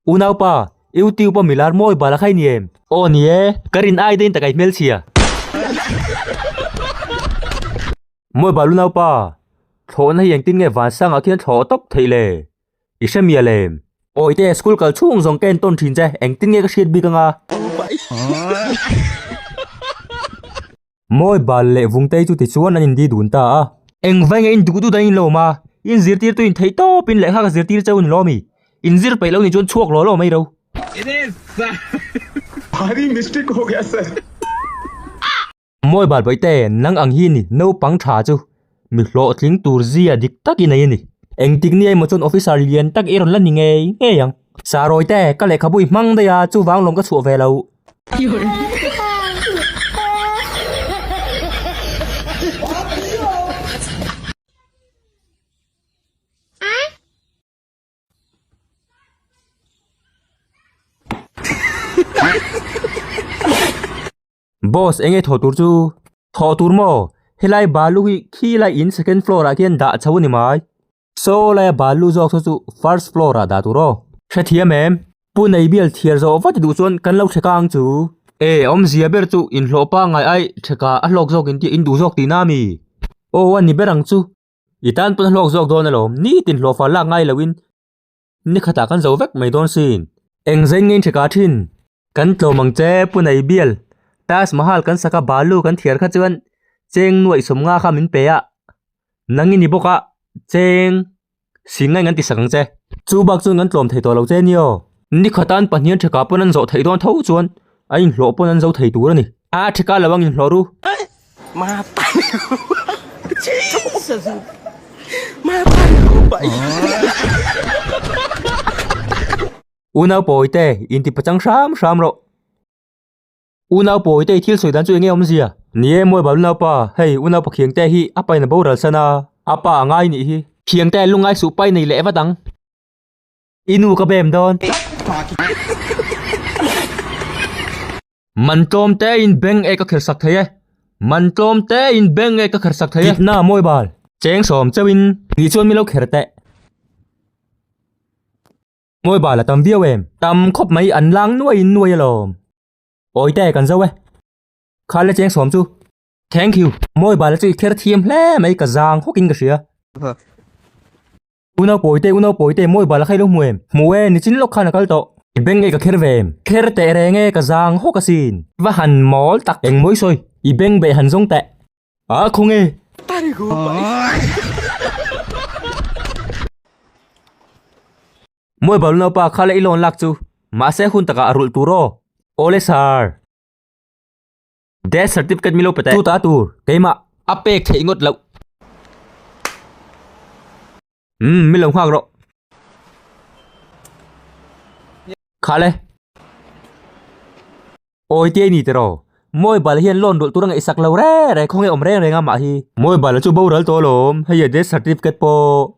Unaupa, youtube a milar mawi bal a khai ni em? Aw ni e, ka rin ai dahin tak ai hmelchhia. Mawi bal unaupa, thlawhna hi engtin nge vansangah khian thlawh tawp theih le? I hre mial em? Aw i te, school kal chhung zawng ka en tawn thin che, engtin nge ka hriat bik anga. Mawi bal leh vungtei chu tichuan an indi dun ta a. Engvainge in duh dut a in lo ma, in zirtirtu in theih tawpin lehkha ka zirtir chauh ni lo mi? In zir peih lo ni chuan chhuak lawh lawh mai ro. Bhari mistake ho gaya sir. Mawi bal bawihte nang ang hi ni naupang tha chu mi hlawhtling tur zia dik tak i nei a ni. Engtik nge emaw chuan officer lian tak i rawn la ni ngei ngei ang. Saroy te, ka lehkhabu i hmang daih a, chuvang lawm ka chhuah ve lo. Boss, eng nge thaw tur chu? Thaw tur maw? Helai balu hi khil a in second floor ah khian dah chho a ni mai. Saw lai a balu zawk saw chu first floor ah dah tur aw. Hrethiam em? Pu Neibial thiar zawh vat duh chuan kan lo threk a ang chu. E, awmzia ber chu in hlawh pangai ai threka a hlawk zawk in tih in duh zawk tihna a mi? Aw a ni ber ang chu. I tan pawn a hlawk zawk dawn alawm, nitin hlawhfar lak ngai lo in. Ni khatah kan zo vek mai dawn si. Eng zai ngei ṭhek a ṭhin. Kan tlawm ang che Pu Nei Bial. Taj Mahal kan sak a balu kan thiar kha chuan cheng nuaih sawmnga kha min pe a. Nang i ni bawk a, cheng si ngaiin kan ti sak ang che. Chu bak chuan kan tlawm thei tawh lo che ni aw. Ni khata an pahniha ṭhekah pawn an zawh theih dawn tho chuan A inhlawh pawn an zo thei tur a ni. A a thika lo ang inhlawh ru. U Naupawi te inti pachang hram hram rawh. U Naupawi te i thil sawi dan chu eng nge awmzia? Ni e mawi balu naupa, hei u naupa Khiangtea hi a pain a boral san a, a pa a ngai nih hi. Khiangtea lungai suh pain a i leh vat ang. I nu ka bem dawn. Man tlawm te in beng e ka kher sak thei e. Man tlawm te in beng e ka kher sak thei e. Kit na mawi bal. Cheng sawm cheu in ni chuan mi lo kher teh. Mawi bal a tam viau em. Tam khawp mai an lang nuai in nuai alawm. Awi te kan zo e. Khal le cheng sawm chu. Thank you. Mawi bal chu i kher thiam hle mai ka zang hawk in ka hria. U nau pawi te, u nau pawi te, mawi bal a khailo hmu em? Hmu e, ni chin lawk khan a kal tawh. I beng nge ka kher ve em? Kher teh reng e, ka zang hawk a sin. I va han mawl tak eng mawi sawi, i beng beh han zawng teh. A khaw nge? Mawi bal u nau pa, kha leh i lawn lak chu. Mahse hun takah a rulh tur aw. Awle sir. Death certificate mi lo pe ta e. Chu ta tur keimah a pek theih ngawt loh. Umm mi lo nghak rawh. Khal e. Awi te ni tiraw. Mobile hian loan dawlh tura ngaih sak lo rek rek khawnge awm reng reng a mah hi. Mobile chu boral tawh alawm, hei a death certificate pawh.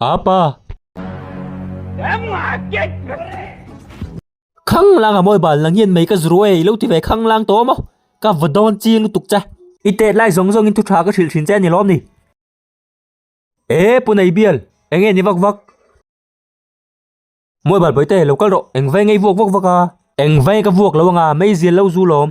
A pa! Khanglang a mawi bal nang hian mei ka zru ei lo ti ve khanglang tawh maw? Ka va dawn chi lutuk che. I tet lai zawng zawngin thu tha ka hrilh thin che a ni lawm ni. E pu nei bial, eng nge ni vak vak? Mawi bal pawite lo kal rawh, engvai ngei vuak vak vak a? Engvai ka vuak lo anga, mei zil lo zu lawm.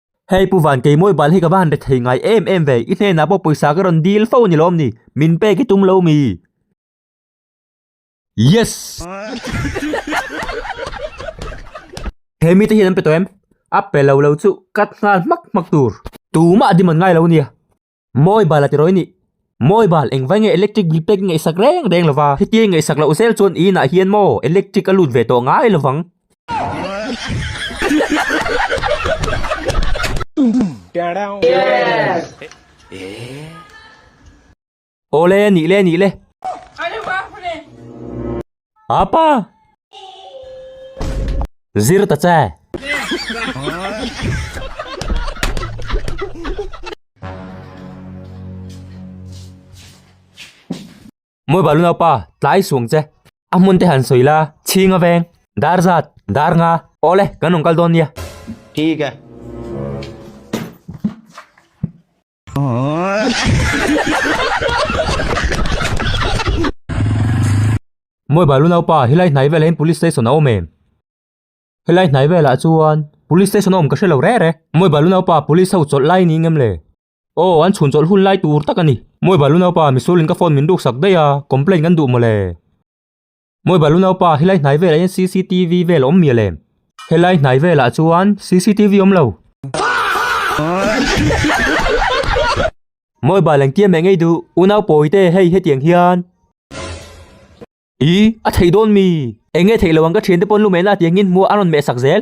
Hei pu van kei mawibal hi ka va han ret thei ngai em em ve, i hnenah pawh pawisa ka rawn dil fo ni lawm ni, min pek i tum lo mi? Yes! He mite hian an pe tawh em? A pe lo lo chu cut nghal hmak hmak tur. Tumah demand ngai lo nia. Mawi bala tiraw i nih? Mawi bal, engvai nge electric bill pek i ngaihsak reng reng lova, hetiang i ngaihsak loh zel chuan i inah hian maw electric a lut ve tawh ngai lovang. Aw le, nih le, nih le. Apa! Zir ta che! Moi balu nau pa, tlai suang che. A hmun te han sawi la, chhing a veng. Dar zat, dar nga. Aw le, kan rawn kal dawn nia. Thik e. Mawi balu naupa, helai hnai velah hian police station a awm em? Helai hnai velah chuan police station a awm ka hre lo rêt e. Mawi balu naupa, police ho chawlh lai niin em le? Aw, an chhun chawlh hun lai tur tak a ni. Mawi balu naupa, Misulin ka phone min ruk sak daih a, complaint kan duh maw le? Mawi balu naupa helai hnai velah hian cctv vel a awm mial em helai hnai velah chuan cctv awm lo mawi bal engtiam mai ngei duh unau pawite hei hetiang hian ih a theih dawn mi enge theih lo ang ka thiante pawn lu mehna ati angin hmu a an rawn meh sak zel.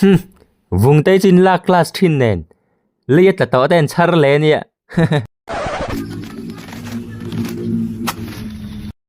Hum, vung te chin lak class thin nen lei a tla tawh ten chhar le nia.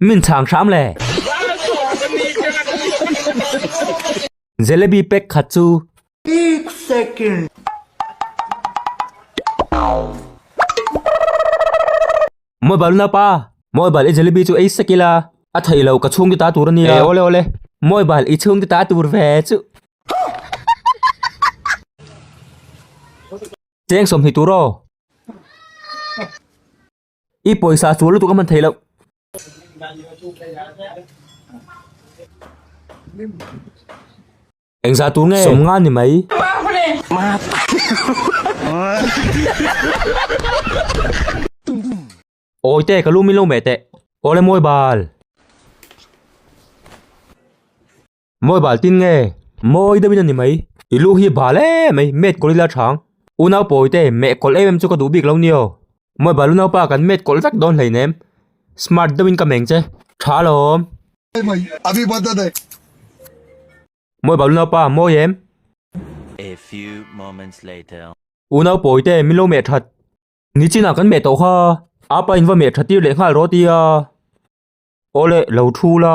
Min chhang hram le. Jalebi pack khat chu. Ek second. Mawi bal na pa. Mawi bal i jalebi chu ei sek ila. A thei lo ka chhung ti ta tur a nia. Ei awle awle. Mawi bal i chhung ti ta tur ve chu. Cheng sawm hnih tur aw. I pawisa chu lutuk a hman thei loh. Engzah tur nge? Sawm nga ni mai. Awi teh ka lu min lo meh teh. Awle mawi bal. Mawi bal tin nge? Mawi deuhin a ni mai. I lu hi bal em mai, met kawlh ila chhang. U naupawi te, meh kawlh em em chu ka duh bik lo nio. Mawi bal u naupa kan met kawlh vek dawn hlein em? Smart deuhin ka meng che. Tha alawm. Happy birthday. Mawi bal u naupa, mawi em? A few moments later. U naupawi te, min lo meh that. Nichin ah kan meh tawh kha. Apa in va meh thattir leh nghal rawt ia. Awle, lo thu la.